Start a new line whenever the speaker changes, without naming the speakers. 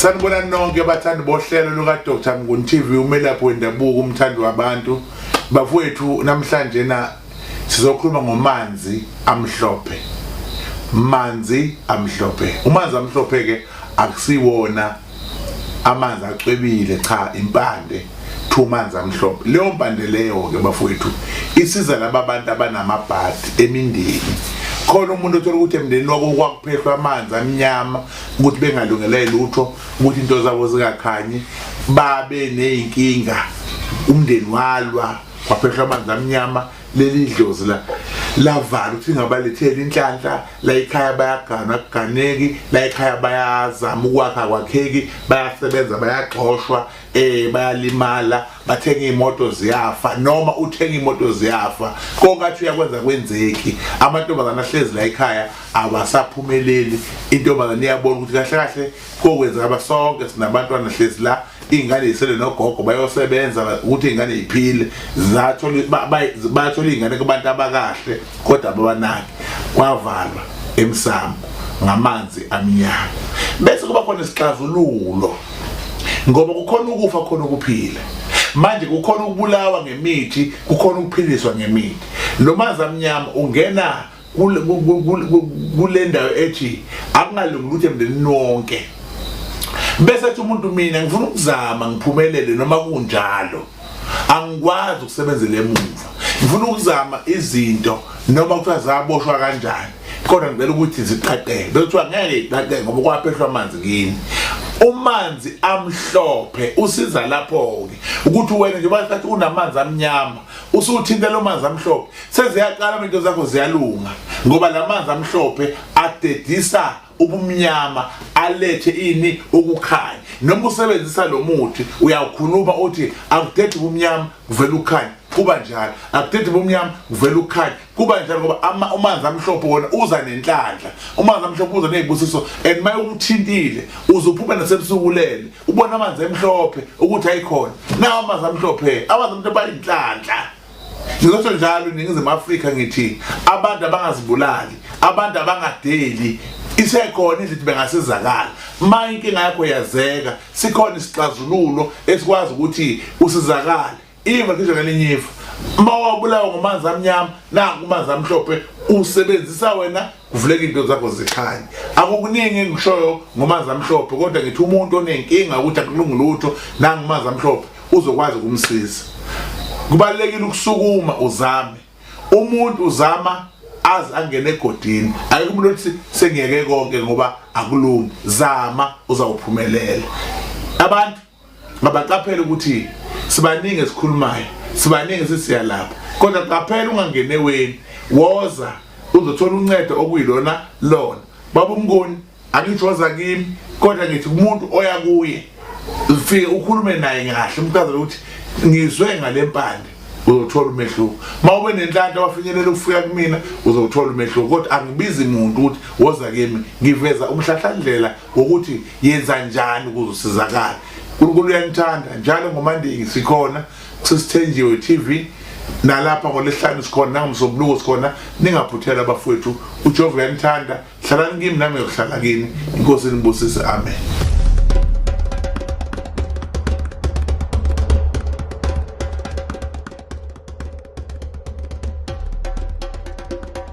sanibona nonke bathandi bohlelo luka-dr mnguni tv umelaphi wendabuko umthandi wabantu bafowethu namhlanje na sizokhuluma ngomanzi amhlophe manzi amhlophe umanzi amhlophe-ke akusiwona amanzi acwebile cha impande two manzi amhlophe leyo mpande leyo-ke bafowethu isiza laba bantu abanamabhadi emindeni khona umuntu othola ukuthi emndeni wako kwakuphehlwa amanzi amnyama ukuthi bengalungele lutho ukuthi into zabo zingakhanyi babe ney'nkinga umndeni walwa kwaphehlwa amanzi amnyama leli dlozi la lavala ukuthi ngabalethela inhlanhla la ekhaya bayagana kuganeki la ekhaya bayazama ukwakha kwakheki bayasebenza bayagxoshwa eh bayalimala bathenga imoto ziyafa noma uthenga imoto ziyafa konkathi uyakwenza kwenzeki amantombazana ahlezi la ekhaya abasaphumeleli intombazana iyabona ukuthi kahle kahle kokwenzeka ba sonke sinabantwana hlezi la ingane yisele nogogo bayosebenza ukuthi ingane iphile zathola bathola ingane kubantu abakahle kodwa ababanaki kwavalwa emsamo ngamanzi amnyama bese kuba khona isixazululo ngoba kukhona ukufa khona ukuphila manje kukhona ukubulawa ngemithi kukhona ukuphiliswa ngemithi lo manzi amnyama ungena kule ndawo ethi akungalungi ukuthi emndenini wonke bese ethi umuntu mina ngifuna ukuzama ngiphumelele noma kunjalo angikwazi ukusebenzela emuva ngifuna ukuzama izinto noma kuthiwa zaboshwa kanjani kodwa ngicela ukuthi ziqaqeke bekuthiwa ngeke iqaqeke ngoba kwaphehlwa amanzi kini umanzi amhlophe usiza lapho-ke ukuthi wena njengoba sathi unamanzi amnyama usuthinte lo manzi amhlophe seziyaqala into zakho ziyalunga ngoba lamanzi amhlophe adedisa ubumnyama alethe ini ukukhanya noma usebenzisa lo muthi uyawukhuluma uthi akudedi ubumnyama kuvela ukukhanya kuba njalo akudedi ubumnyama kuvela ukukhanya kuba njalo ngoba ama umanzi amhlophe wona uza nenhlanhla umanzi amhlophe uza nezibusiso and maye ukuthintile uze uphume nasebusukulele ubona amanzi emhlophe ukuthi ayikhona nawo amanzi amhlophe amanzi amhlophe ayinhlanhla Ngizosho njalo iNingizimu Afrika ngithi abantu abangazibulali, abantu abangadeli isekhona izinto bengasizakala uma inkinga yakho yazeka sikhona isixazululo esikwazi ukuthi usizakale iva ngisho ngelinye ifa uma wabulawa ngomanzi amnyama nakumanzi amhlophe usebenzisa wena kuvuleka into zakho zikhanye akukuningi engishoyo ngomanzi amhlophe kodwa ngithi umuntu onenkinga ukuthi akulungi lutho nangumanzi amhlophe uzokwazi ukumsiza kubalekile ukusukuma uzame umuntu uzama azi angene egodini ayike umuntu othi sengiyeke konke ngoba akulungi zama uzawuphumelela abantu Ngabaqaphela ukuthi sibaningi esikhulumayo, sibaningi sisiya lapho. Kodwa qaphela ungangene weni, woza uzothola uncedo okuyilona lona. Baba umngoni angithi woza kimi kodwa ngithi kumuntu oya kuye ufike ukhulume naye kahle umchazele ukuthi ngizwe ngalempande uzothola umehluko uma ube nenhlanhla wafinyelela ukufika kumina uzothola umehluko kodwa angibizi muntu ukuthi woza kimi ngiveza umhlahlandlela ngokuthi yenza njani ukuze usizakale unkulunkulu uyanithanda njalo ngomandingi sikhona kusesithenjiwe tv nalapha ngolesihlanu sikhona nangomsombuluko sikhona ningaphuthela abafowethu ujehova uyanithanda hlalani kimi nami ngiyohlala kini inkosi inibusise amen